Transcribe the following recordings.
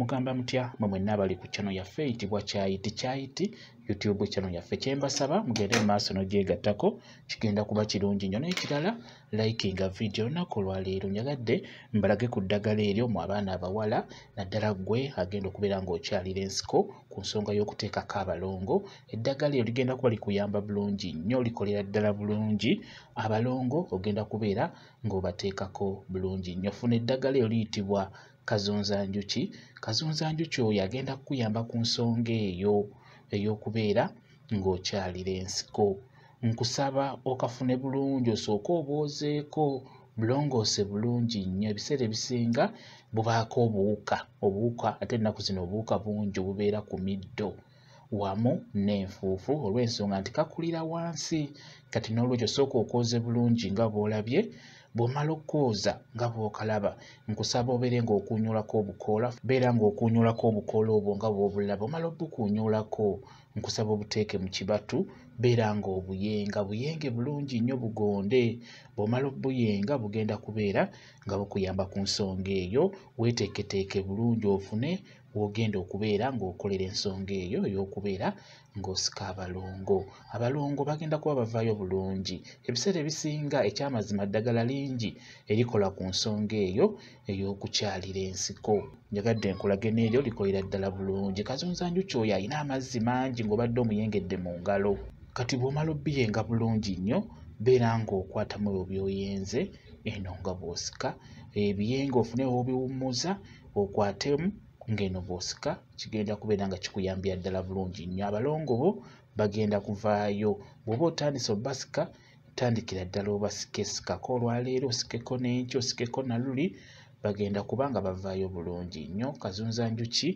mugamba mutya mwe mwenna abali ku channel yaffe eyitibwa kyayiti kyayiti youtube channel yaffe kyembasaba mugende mu maaso n'ogyegattako kigenda kuba kirungi nnyo n'ekirala likinga vidiyo olunaku olwaleero nyagadde mbalage ku ddagala eryo mu abaana abawala naddala ggwe agenda okubeera ng'okyalira ensiko ku nsonga y'okuteekako abalongo eddagala eryo ligenda kuba likuyamba bulungi nnyo likolera ddala bulungi abalongo ogenda kubeera ng'obateekako bulungi nnyo funa eddagala eryo liyitibwa kazunzanjuki kazunzanjuki oyo agenda kukuyamba ku nsonga eyo ey'okubeera ng'okyalira ensiko nkusaba okafune bulungi osooke obwozeeko bulongoose bulungi nnyo ebiseera ebisinga bubaako obuwuka obuwuka ate ennaku zino obuwuka bungi obubeera ku middo wamu n'enfuufu olw'ensonga nti kakulira wansi kati n'olwekyo sooka okwoze bulungi nga bw'olabye bw'omala okukooza nga bw'okalaba nkusaba obeere ng'okuunyuulako obukoola beera ng'okuunyuulako obukoola obwo nga bw'obulaba omala obukuunyuulako nkusaba obuteeke mu kibatu beera ng'obuyenga buyenge bulungi nnyo bugonde bw'omala obuyenga bugenda kubeera nga bukuyamba ku nsonga eyo weeteeketeeke bulungi ofune w'ogenda okubeera ng'okolera ensonga eyo ey'okubeera ng'osika abalongo abalongo bagenda kuba bavaayo bulungi ebiseera ebisinga ekyamazima ddagala lingi erikola ku nsonga eyo ey'okukyalira ensiko njagadde nkulage n'eryo likolera ddala bulungi kazunza njuki oyo alina amazzi mangi ng'obadde omuyengedde mu ngalo kati bw'omala obbiyenga bulungi nnyo beera ng'okwatamu ebyo by'oyenze eno nga bw'osika ebiyenga ofune w'obiwummuza okwatemu ng'eno bw'osika kigenda kubeera nga kikuyambira ddala bulungi nnyo abalongo bo bagenda kuvaayo bw'oba otandise obasika tandikira ddala obasike sikako olwaleero osikeko n'enki osikeko naluli bagenda kuba nga bavaayo bulungi nnyo kazunza njuki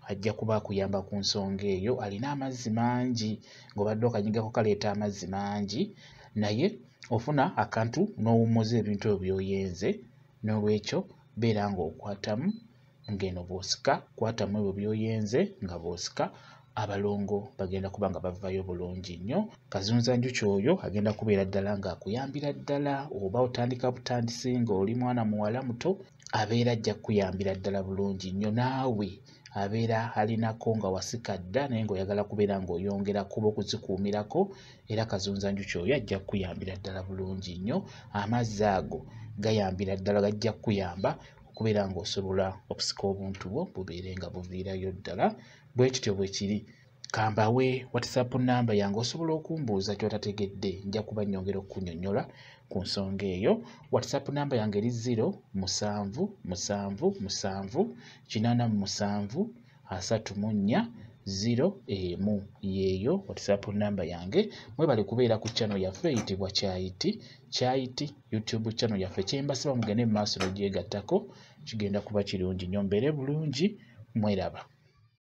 ajja kuba akuyamba ku nsonga eyo alina amazzi mangi ng'obadde okanyigako kaleeta amazzi mangi naye ofuna akantu n'owummuza ebintu ebyo byoyenze N'olwekyo beera ng'okwatamu ng'eno bw'osika kwatamu ebyo by'oyenze nga bw'osika abalongo bagenda kuba nga bavaayo bulungi nnyo kazunza njuki oyo agenda kubeera ddala ng'akuyambira ddala oba otandika butandisi ng'oli mwana muwala muto abeera ajja kukuyambira ddala bulungi nnyo naawe abeera alinako nga wasika dda naye ng'oyagala kubeera ng'oyongera kuba okuzikuumirako era kazunza njuki oyo ajja kukuyambira ddala bulungi nnyo amazzi ago gayambira ddala gajja kukuyamba okubeera ng'osobola okusika obuntu bwo bubeere nga buviirayo ddala bwe kityo bwe kiri kambawe whatsapp namba yange osobola okumbuuza kyotategedde nja kuba nyongera okukunyonyola ku nsonga eyo whatsapp namba yange eri 0 musanvu musanvu musanvu kinana musanvu asatu mu nnya ziro emu yeeyo whatsapp namba yange mwebale kubeera ku channel yaffe eyitibwa kyayiti kyayiti youtube channel yaffe kyembasaba mugende mu maaso nogyegattako kigenda kuba kirungi nyo mbeere bulungi mweraba